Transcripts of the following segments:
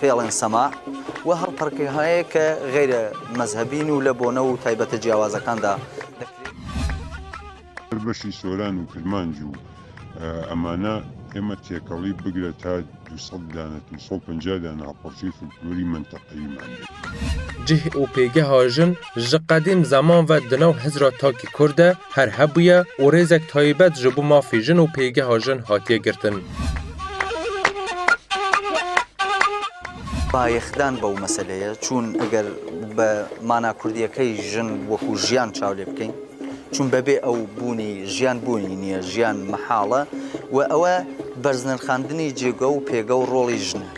Fêlên sema û her perkîhayê ke xeyrê mezhebî nû le bone û taybete cîyawazekan da Her beşî soran û kirmanc û emana êma têkelî bigre ta du sed dane, du sed û pencah dane ha parçeyê folklorî menteqeyî mende. Cih û pêgeha jin Ji qedîm zeman ve di nav Hizra Takî Kur de her hebûye û rêzek tayîbet ji bo mafê jin û pêgeha jin hatiye girtin. Bayexdan bo meseleyê çûn eger bi mana kurdiyekey jin wekû jiyan çaw lê bikeyn çûn bebê ew bûnî jiyan bûnî niye jiyan mihal e û ew e berznirxandinî cêge û pêge û rolî jin e.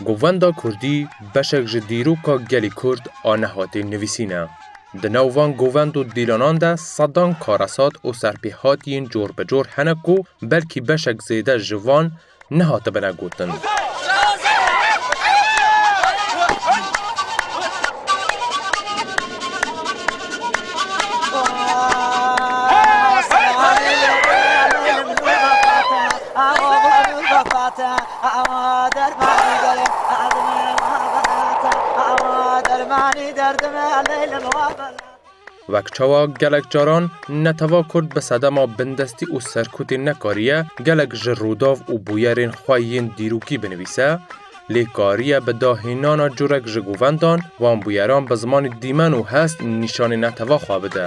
Govenda Kurdî beşek ji dîroka gelê Kurd a nehatê nivîsî ne. Di nav van govend û dîlanan de sedan karesat û serpêhatiyên cor bi cor hene ku belkî beşek zêde ji van nehatibine gotin. Wek çawa gelek caran netewa kurd bi sedema bindestî û serkûtî nekariye gelek ji rûdav û bûyerên xwe yên dîrokî binivîse, lê kariye bi dahênana curek ji govendan van bûyeran bi zimanê dîmen û hest nîşanê netewa xwe bide.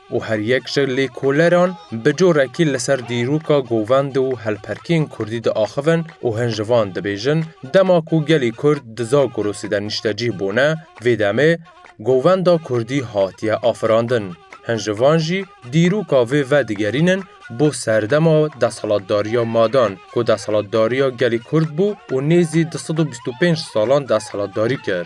û her yek ji lêkoleran bi corekî li ser dîroka govend û helperkiyên kurdî diaxivin û hin ji van dibêjin, dema ku gelî kurd di Zagorosê de nîştecîh bûne, vê demê govenda kurdî hatiye afirandin. Hin ji van jî dîroka vê vedigerînin bo serdema desthilatdariya madan ku desthilatdariya gelî kurd bû û nêzî du sed û bîst û pênc salan desthilatdarî kir.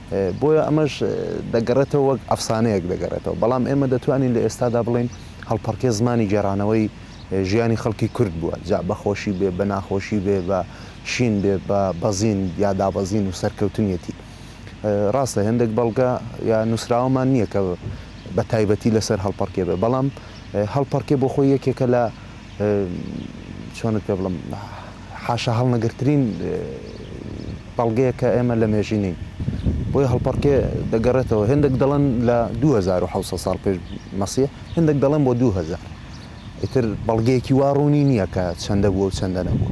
Boya eme ji degereto wek efsaneyek degereto. Belam ême detwanîn li êsta de bilên helperkê zimanî geranewey jiyanî xelkî kurd bûe. Ca be xweşî bê, be naxweşî bê, be şîn bê, be bezîn ya dabezîn û serkewtiniyetî. Rast e hindek belge ya nusraweman niye ke be taybetî li ser helperkê be. Belam helperkê bo xwe yekeke la Çend pê bilim haşa hilnegirtirîn belgeyeke ême li mêjî nîn. Boye hilperkê digeretewe. Hêndek delên li du hezar û hewt sed sal pêş Mesîh, hêndek delên bo du hezar. Îtir belgeyekî wa rûnî nîye ke çende bûye û çende nebûye.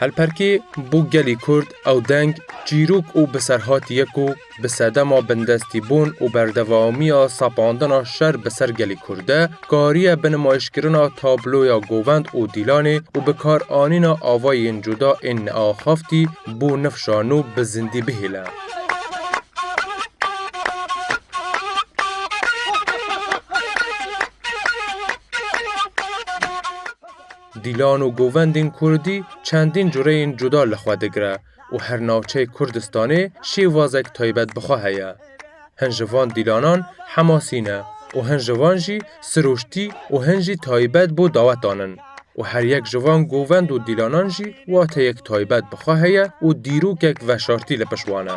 Helperkê bo gelî Kurd ew deng, çîrok û biserhatî ye ku Bi sedema bindestîbûn û berdewamiya sapandina şer bi ser gelê Kurd de, kariye bi nimayişkirina tabloya Govend û Dîlanê û bikaranîna avayên cuda ên neaxaftî bo nifşa nû bi zindî bihêle. Dîlan û Govendên Kurdî çendîn cureyên cuda li xwe digire. Û her navçeyê Kurdistanê şêwazek taybet bi xwe heye. Hin ji van dîlanan Hemasî ne û hin ji van jî Siroştî û hin jî taybet bo dawetan in. Û her yek ji van govend û dîlanan jî wateyek taybet bi xwe heye û dîrokek veşartî li pişt wan e.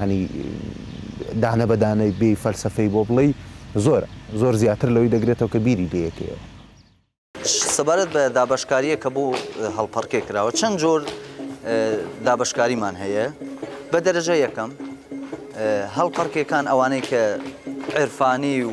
Yanî dane be dane bêyî felsefeyî bo bileyî zor e. Zor zîyatir li wî de girêto ke bîrî bê yekê ew. Sebaret be dabeşkariyê ke bo Halperkê kirawe çend cor dabeşkarîman heye. Be derece yekem, Halperkêkan ewanê ke îrfanî û.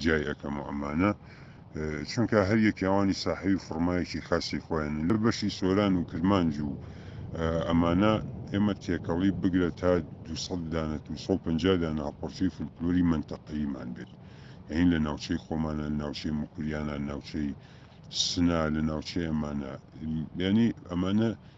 Ciyayê eke muema ne. Çunke her yekê wanî sahibî formeyekî xesî xwe ye. Li beşî soran û kirmanc û ema ne, ême têkelî bigire ta du sed dane, du sed û penca dane hevpirçeyê folklorî menteqeyî man bêt. Yanî li navçeyê xwe man e, li navçeyê Mukuriyan e, li navçeyê Sina, li navçeyê ema ne. Yanî ema ne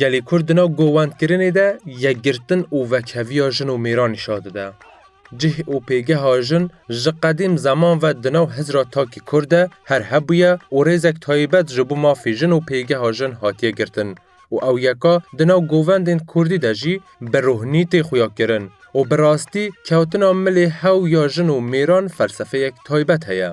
Gelê Kurd di nav govendkirinê de yekgirtin û vekheviya jin û mêran nîşan dide. Cih û pêgeha jin ji qedîm zeman ve di nav Hizra Takî Kurd de her hebûye û rêzek taybet ji bo mafê jin û pêgeha jin hatiye girtin û ew yeka di nav govendên Kurdî de jî bi rohnî tê xuya kirin û bi rastî kewtina milê hew ya jin û mêran felsefeyek taybet heye.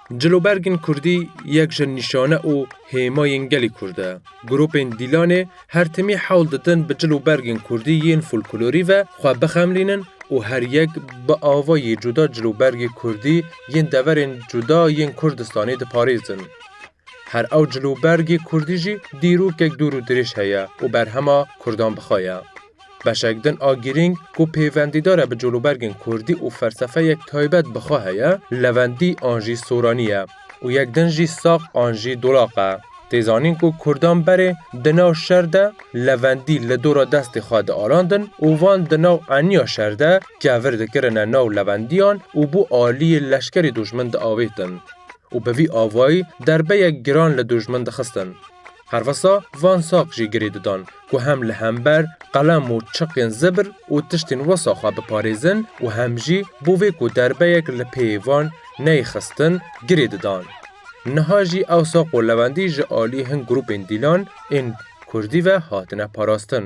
Cilûbergên Kurdî yek ji nîşane û hêmayên gelê Kurd e. Grûpên Dîlanê her timî hewl didin bi cilûbergên Kurdî yên folklorî ve xwe bixemlînin û her yek bi avayê cuda cilûbergê Kurdî yên deverên cuda yên Kurdistanê diparêzin. Her ew cilûbergê Kurdî jî dîrokek dûr û dirêj heye û berhema Kurdan bixwe ye. Beşek din a girîng ku pêvendîdara bi colobergên kurdî û felsefeyek taybet bi xwe heye, levendî an jî soranî ye û yek din jî sax an jî dolaq e. Tê zanîn ku kurdan berê di nav şer de levendî li dora destê xwe diarandin û van di nav eniya şer de kevir dikirine nav levendiyan û bo aliyê leşkerê dojmin diavêtin. û bi vî avayî derbeyek giran li dûjmin dixistin. Herwisa van saq jî girê didan ku hem li hember qelem û çiqên zibr û tiştên wisa xwe biparêzin û hem jî bo vê ku derbeyek li pêyê van neyê xistin girê didan. Niha jî ew saq û lewendî ji aliyê hin grûpên dîlan ên Kurdî ve hatine parastin.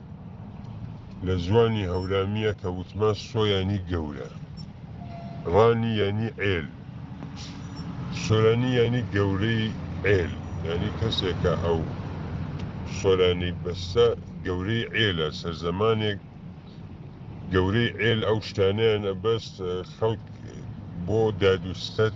Li ziwanî hewramî ye tewitman so yanî gewre, ranî yanî êl, soranî yanî gewreyî êl yanî keseke ew soranî biste gewreyî êl e. Serzemanêk gewreyî êl ew ştaneyan e best xelk bo derdûstet.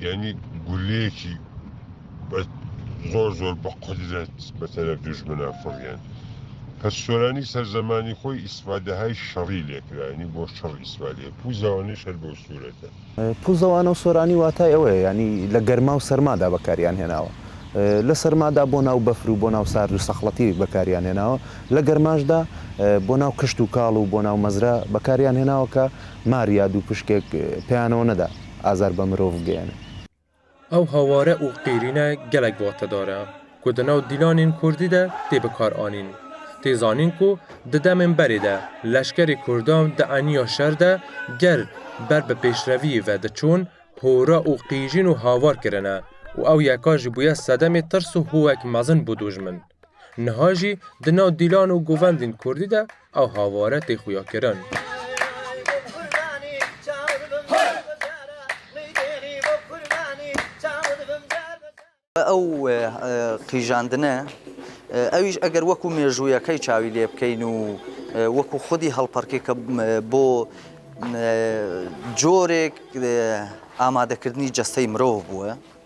Yanî guleyekî zor zor bi qudret bi teref dujminan firiyan. Pir Soranî ser zemanî xwe îsfadehayê şerî lê kira, yanî bo şer îsfade ye. Pûza wan ê şer bi ew sûret e. Pûza wan û Soranî watayê ew ye, yanî li germa û serma de bekariyan hênawe. Li serma de bona û befir û bona û sard û sexletî bekariyan hênawe. Li germa jî de bona û kişt û kal û bona û mezra bekariyan hênawe ke mar ya dûpişkek peyanewne de Azar be mirov geyane. Ew haware û qîrîne gelek watedar e ku di nav dîlanên kurdî de tê bikaranîn. Tê zanîn ku di demên berê de leşkerê kurdan di eniya şer de ger ber bi pêşreviyê ve diçûn hora û qîrîn û havar kirine û ew yeka jî bûye sedemê tirs û hûwek mezin bo dûjmin. Niha jî di nav dîlan û govendên kurdî de ew haware tê xuyakirin. Ew qîjandine, ew îş eger wekû mêjûyeke çawî lê bikeyn û wekû xwedî hallperkeke bo corêk amadekirinî cesteyê mirov bûye.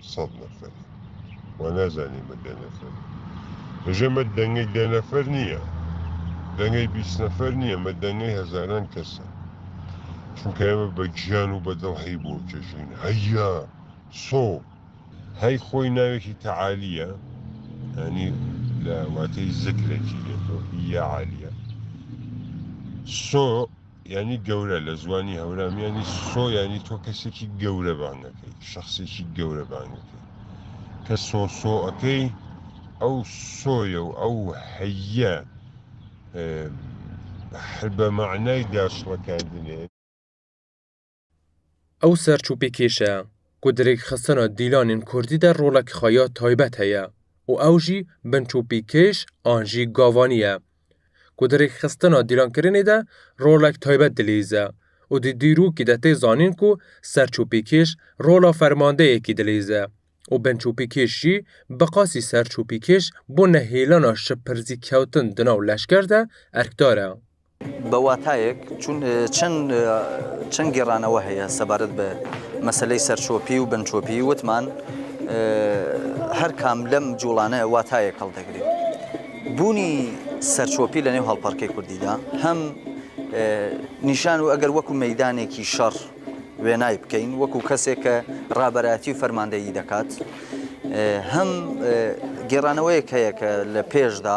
sed neferî. Ma nezanî me deh nefer in. Hije me dengê deh nefer niye. Dengê bîst nefer niye. Me dengê hezaran kes e. Çunke eme be ciyan û be dil heyî bo çejîn. Heyya! So! Hey xwey navekî tealî ye. Yanî li wateyî zikrekî ye. Hî ya alî ye. So! Yanî gewre li ziwanî hewramî yanî so yanî to kesekî gewre bang ekey, şexsekî gewre bang ekey. Kes so so ekey ew so ye û ew heye. Her be manayî daşlekerdinê. Ew serçûpîkêş e ku di rêkxistina dîlanên kurdî de rolek xwe ya taybet heye û ew jî binçûpîkêş an jî gavanî ye ku di rêkxistina dîlankirinê de rolek taybet dilîze û di dîrokî de tê zanîn ku serçûpîkêş rola fermandeyekî dilîze û binçûpîkêş jî bi qasî serçûpîkêş bo nehêlana şipirzîkewtin di nav leşker de erkdar e. Bi watayek çûn çend çend gêranewe heye sebaret bi meseleyê serçopî û binçopî witman her kam lem colane watayek hildigirê. Bûnî serçopî li nêv halparkê kurdî de hem nîşan û eger wekû meydanekî şer wênayê bikeyn wekû kesê ke raberayetî û fermandeyî dekat hem gêraneweyek heye ke li pêş de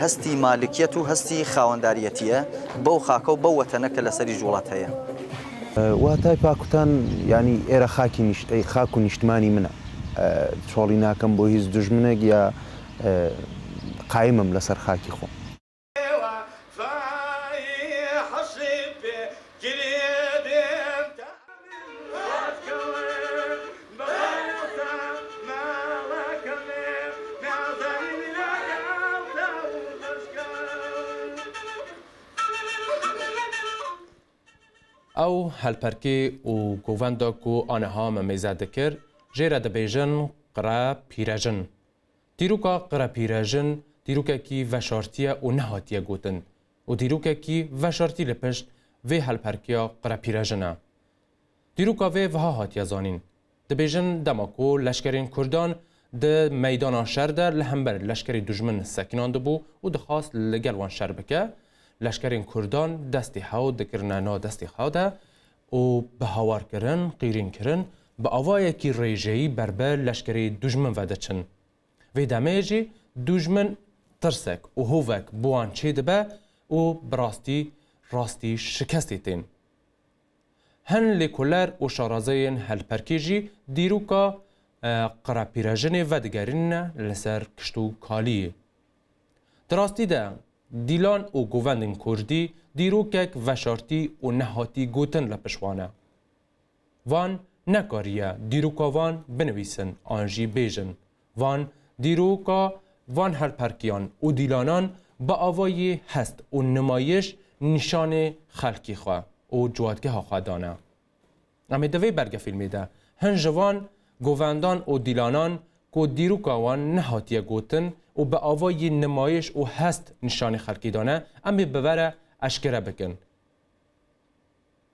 Hestî malikiyet û hestî xawendariyetî ye bew xaka û bew wetene ke li serî ji welat heye. Watay pakutan yanî êra xakî nîşteyî xak û nîştimanî min e. Çalî nakim bo hîz dijminek ya qayim im li ser xakî xwe. Ew helperkê û govenda ku aniha me mêze dikir jê re dibêjin Qire Pîrejin. Dîroka Qire Pîrejin dîrokekî veşartiye û nehatiye gotin. û dîrokekî veşartî li pişt vê helperkiya qirepîrejin e. Dîroka vê viha hatiye zanîn, Dibêjin dema ku leşkerên kurdan di meydana şer de li hember leşkerê dujmin sekinan dibû û dixwast li gel wan şer bike, leşkerên kurdan destê hew dikirine nav destê xwe de û bi hawarkirin, qîrînkirin bi avayekî rêjeyî berbe leşkerê dujmin ve diçin. Vê demê jî dûjmin tirsek û hovek bi wan çê dibe û bi rastî rastî şikestê tên. Hin lêkoler û şarazeyên helperkê jî dîroka qirepîrejinê vedigerîne li ser kişt û kaliyê. Di rastî de dîlan û govendên kurdî dîrokek veşartî û nehatî gotin li pişt wan e. Van nekariye dîroka van binivîsin an jî bêjin. Van dîroka van helperkiyan û dîlanan bi avayî hest û nimayîş nîşanê xelkî xwe û ciwatgeha xwe dane. Em ê di vê belgefîlmê de hin ji van govendan û dîlanan ku dîroka wan nehatiye gotin û bi avayî nimayîş û hest nîşanê xelkî dane, em ê bi vere eşkere bikin.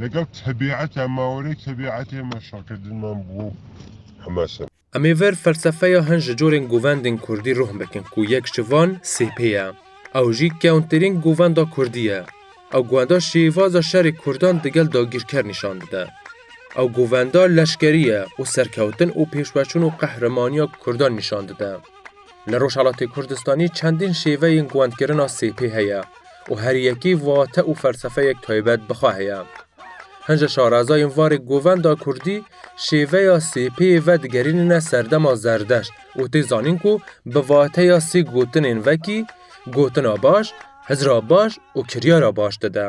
Legel tebîeta me were tebîetê me şakirdinman bi bo heme seme. Em ê ver felsefeya hin ji corên govendên kurdî ruh bikin ku yek ji van CHP ye. Ew jî kewntirîn govenda kurdî ye. Ew govenda şêvaza şerê kurdan digel dagîrker nîşan dide. Ew govenda leşkerî ye û serkewtin û pêşveçûn û qehrimaniya kurdan nîşan dide. Li Rojhelatê Kurdistanê çendîn şêveyên govendkirina CHP heye. û her yekî vate û felsefeyek taybet bi xwe heye. Hin ji şarazayên varê govenda kurdî şêveya sêpeyê vedigerînîne serdema zerdeşt û tê zanîn ku bi vateya sê gotinên vekî gotina baş, hizra baş û kiryara baş dide.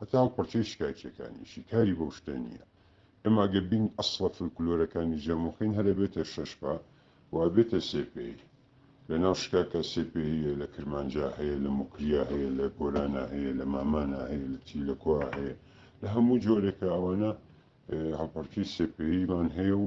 Heta ew parçeyê şikayetçiyekan e, şîkarî bo şte nîye. Em age bîn esla folklorekan ê Camûxîn here bête şeş pa û ev bête sê pey. Li nav şikaka sê peyî ye li Kirmanca heye, li Mûkriya heye, li Gorana heye, li Mamana heye, li Tîlekoa heye. Li hemû coreke ewana hevparçeyî sê peyî van heye û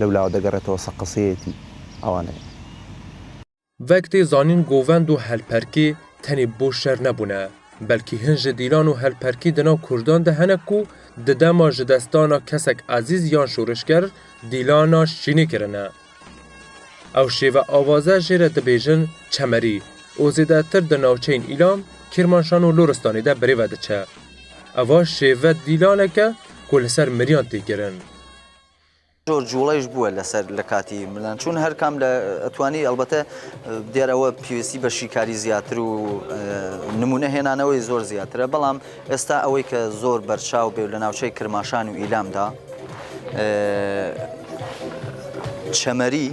lewla digereto ser qiseyetî awan e. Vek tê zanîn govend û helperkê tenê bo şer nebûne, belkî hin ji dîlan û helperkî di nav kurdan de hene ku di dema ji dest dana kesek ezîz yan şorişger dîlana şînê kirine. Ew şêve avaze jê re dibêjin çemerî û zêdetir di navçeyên Îlam, Kîrmanşan û Loristanê de birê ve diçe. Eva şêve dîlanek e ku li ser miriyan tê kirin. Jor cuwlay ji bûe li ser li katî milan çûn her kam li etwanî elbete diyara we pîwistî be şîkarî ziyatir û nimûne hênane wê zor ziyatir e belam êsta ewê ke zor berçaw bê li navçeyê kirmaşan û îlam da çemerî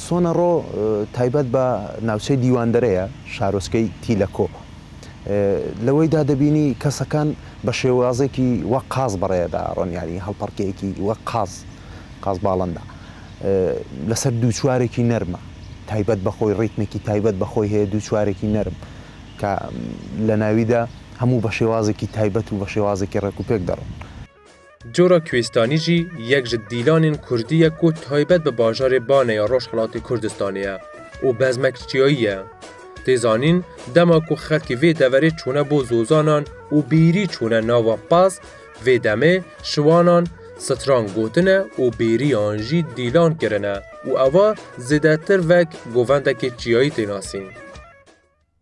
Sona ro taybet be navçeyê Dîwandere ye, şaroskeyê Tîleko. Li wê de dibînî kesekan bi şêwazekî wek qaz bi rê de ron yanî hilperkeyekî wek qaz, qazbalin de. Li ser dû çiwarekî nerm e. Taybet bi xwe rîtmekî taybet bi xwe heye dû çiwarekî nerm ke li navî de hemû bi şêwazekî taybet û bi şêwazekî rêk û pêk de ron. Cora Kuêstanî jî yek ji dîlanên Kurdî ye ku taybet bi bajarê Banê ya Rojhilatê Kurdistanê ye û bezmekçiyayî ye. Tê zanîn dema ku xelkî vê deverê çûne bo zozanan û bêrî çûne nava Paz, vê demê şiwanan stran gotine û bêrîyan jî dîlan kirine û eva zêdetir vek govendekê çiyayî tê nasîn.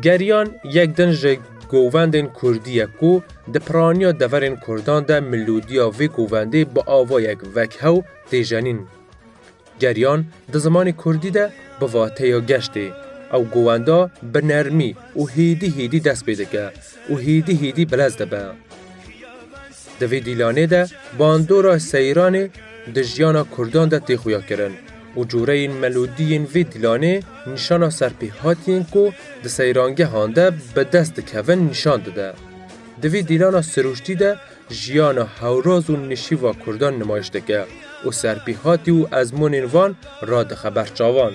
Geriyan yek din ji govendên Kurdî ye ku di piraniya deverên Kurdan de milodiya vê govendê bi avayek vekhew tê jenîn. Geriyan di zimanê Kurdî de bi vateya geştê, ew govenda bi nermî û hêdî hêdî dest pê dike û hêdî hêdî bilez dibe. Di vê dîlanê de bandora seyranê di jiyana Kurdan de tê xuyakirin. û coreyên melodiyên vê dîlanê nîşana serpêhatiyên ku di seyrangehan de bi dest dikevin nîşan dide. Di vî dîlana sirûştî de jiyana hewroz û nişîva Kurdan nimayiş dike û serpêhatî û ezmûnên wan radixe ber çavan.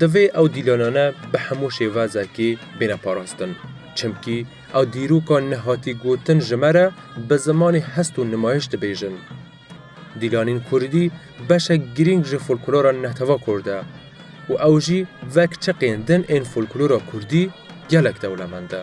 Divê ew dîlanane bi hemû şêvezekê bêne parastin. Çimkî ew dîroka nehatî gotin ji me re bi zimanê hest û nimayîş dibêjin. Dîlanên kurdî beşek girîng ji folklora netewek kurd e û ew jî wek çiqên din ên folklora kurdî gelek dewlemend e.